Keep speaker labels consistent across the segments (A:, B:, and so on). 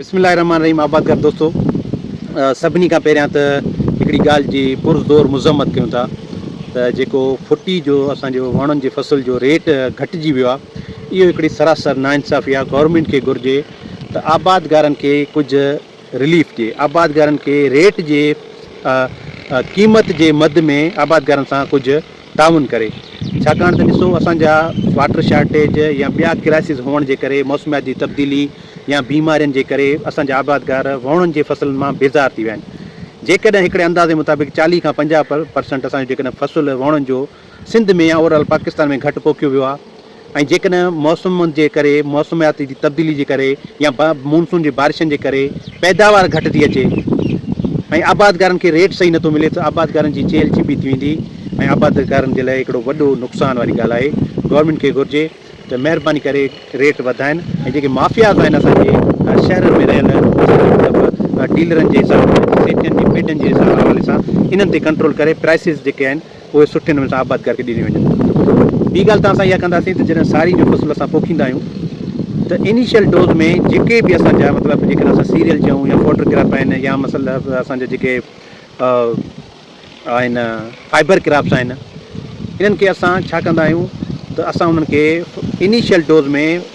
A: بسم الله الرحمٰن الرحيم آبادگار دوستو سڀني کان پهريان ته هڪڙي ڳالهه جي پر زور مذمت ڪيون ٿا ته جيڪو ڦٽي جو اسان جو وڻن جي فصل جو ريٽ گهٽجي ويو آهي اهو هڪڙي سراسر ناانصافي آهي گورنمينٽ کي گهرجي ته آبادگارن کي ڪجهه رليف ڏي آبادگارن کي ريٽ جي قيمت جي مد ۾ آبادگارن سان ڪجهه تعاون ڪري ڇاڪاڻ ته ڏسو اسان جا واٽر شارٽيج يا ٻيا ڪرائسز هئڻ جي ڪري موسميات جي تبديلي يا بيمارين جي ڪري اسان جا آبادگار وهڻن جي فصلن مان بيزار ٿي ويا آهن جيڪڏهن هڪڙي اندازي مطابق چاليهه کان پنجاهه پرسنٽ اسان جو جيڪڏهن فصل وهڻن جو سنڌ ۾ يا اوور آل پاڪستان ۾ گهٽ پوکيو ويو آهي ۽ جيڪڏهن موسم جي ڪري، موسميات جي تبديلي جي ڪري يا مونسون جي بارشن جي ڪري پيداوار گهٽ ٿي اچي ۽ آبادگارن کي ريٽ صحيح نٿو ملي ته آبادگارن جي چيلهه چيپي ٿي ويندي ۽ آبادگارن جي لاء هڪڙو وڏو نقصان واري ڳالهه آهي گورنمينٽ کي گهرجي ته مهرباني ڪري ريٽ وڌائين ۽ جيڪي مافياز آهن اسان جي شهرن ۾ رهيل مطلب ڊيلرن جي حساب سيٽن جي پيٽن جي حوالي سان انهن تي ڪنٽرول ڪري پرائسز جيڪي آهن اهي سٺي نموني سان آباد ڪري ڏنيون وڃن. ٻي ڳالهه ته اسان اها ڪنداسين ته جڏهن ساري جو فصل اسان پوکيندا آهيون ته انيشل ڊوز ۾ جيڪي به اسان جا مطلب جيڪڏهن اسان سيريل چئون يا فوڊر ڪراپ آهن يا مثلا اسان جا جيڪي آهن فائبر ڪراپس آهن انهن کي اسان ڇا ڪندا آهيون ته اسان انهن کي انيشل ڊوز ۾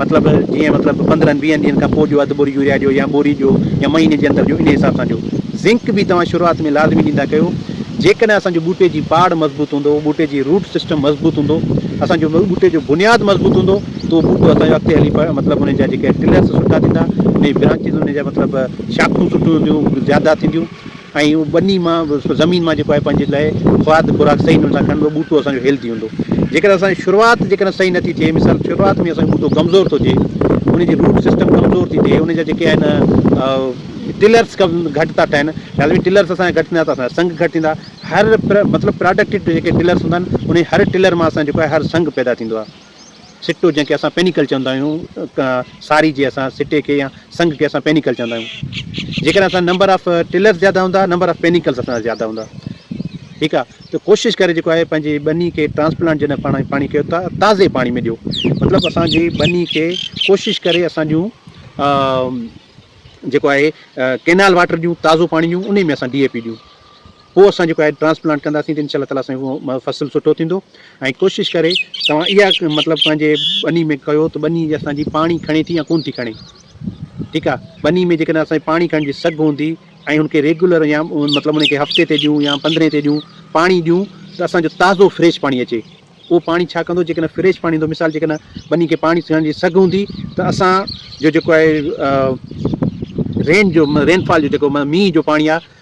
A: مطلب جيئن مطلب پندرهن ويهن ڏينهن کان پوء ڏيو اڌ بوري يوريا ڏيو يا بوري ڏيو يا مهيني جي اندر ڏيو انهي حساب سان ڏيو زنڪ به توهان شروعات ۾ لازمي ڏيندا ڪيو جيڪڏهن اسان جو ٻوٽي جي پاڙ مضبوط هوندو ٻوٽي جي روٽ سسٽم مضبوط هوندو اسان جو ٻوٽي جو بنياد مضبوط هوندو ته اهو ٻوٽو اسان جو اڳتي هلي مطلب انهي جا جيڪي ٽلرس سٺا ٿيندا انهي برانچز انهي جا مطلب شاخون سٺيون هونديون زياده ٿينديون ۽ اهو ٻني مان زمين مان جيڪو آهي پنهنجي لاء کاد خوراڪ صحيح نموني سان کڻبو ٻوٽو اسان جو هيلٿي هوندو جيڪڏهن اسان جي شروعات جيڪڏهن صحيح نٿي ٿئي مثال شروعات ۾ اسان جو ٻوٽو ڪمزور ٿو ٿئي ان جي روٽ سسٽم ڪمزور ٿي ٿئي ان جا جيڪي آهن ٽلرس گهٽ ٿا ٺهن لحاظ ۾ ٽلرس اسان جا گهٽ ٿيندا ته اسان جا سنگ گهٽ ٿيندا هر مطلب پراڊڪٽ جيڪي ٽلرس هوندا آهن ان هر ٽلر مان اسان جيڪو آهي هر سنگ پيدا ٿيندو آهي سٽو جنهن کي اسان پينيڪل چوندا آهيون ساري جي اسان سٽي کي يا سنگ کي اسان پينيڪل چوندا آهيون جيڪڏهن اسان نمبر آف ٽلرس زياده هوندا نمبر آف پينيڪلس اسان جا زياده هوندا ٺيڪ آ ته ڪوشش ڪري جيڪو آهي پنهنجي ٻني کي ٽرانسپلانٽ جڏهن پاڻ پاڻي ڪيو ته تازي پاڻي ۾ ڏيو مطلب اسانجي ٻني کي ڪوشش ڪري اسان جون جيڪو آهي ڪينال واٽر ڏيون تازو پاڻي ڏيون انهي ۾ اسان ڊي اي پي ڏيون پوء اسان جيڪو آهي ٽرانسپلانٽ ڪنداسين ته انشاء الله تعالٰي سائين اهو فصل سٺو ٿيندو ۽ ڪوشش ڪري توهان اها مطلب پنهنجي ٻني ۾ ڪيو ته ٻني جي اسان جي پاڻي کڻي ٿي يا ڪونه ٿي کڻي ٺيڪ آهي ٻني ۾ جيڪڏهن اسان جي پاڻي کڻڻ جي سگهه هوندي ۽ ان کي ريگيولر يا مطلب ان کي هفتي تي ڏيون يا پندرهين تي ڏيون پاڻي ڏيون ته اسان جو تازو فريش پاڻي اچي اهو پاڻي ڇا ڪندو جيڪڏهن فريش پاڻي هوندو مثال جيڪڏهن ٻني کي پاڻي کڻڻ جي سگهه هوندي ته اسان جو جيڪو آهي رين جو رين فال جو جيڪو مينهن جو پاڻي آهي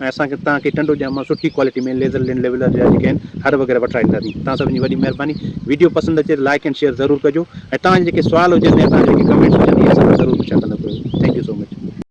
A: ۽ اسان کي توهان کي ٽنڊو ڄام مان سٺي ڪوالٽي ۾ ليزر لينڊ ليولر جا جيڪي آهن هر وغيره وٺرائي ڏينداسين توهان سڀني جي وڏي مهرباني ويڊيو پسند اچي ته لائيڪ اينڊ شيئر ضرور ڪجو ۽ توهان جا جيڪي سوال هجن يا توهان جا جيڪي ڪمينٽس هجن اهي اسان کان ضرور پڇا ڪندا ڪيو ٿينڪ يو سو مچ.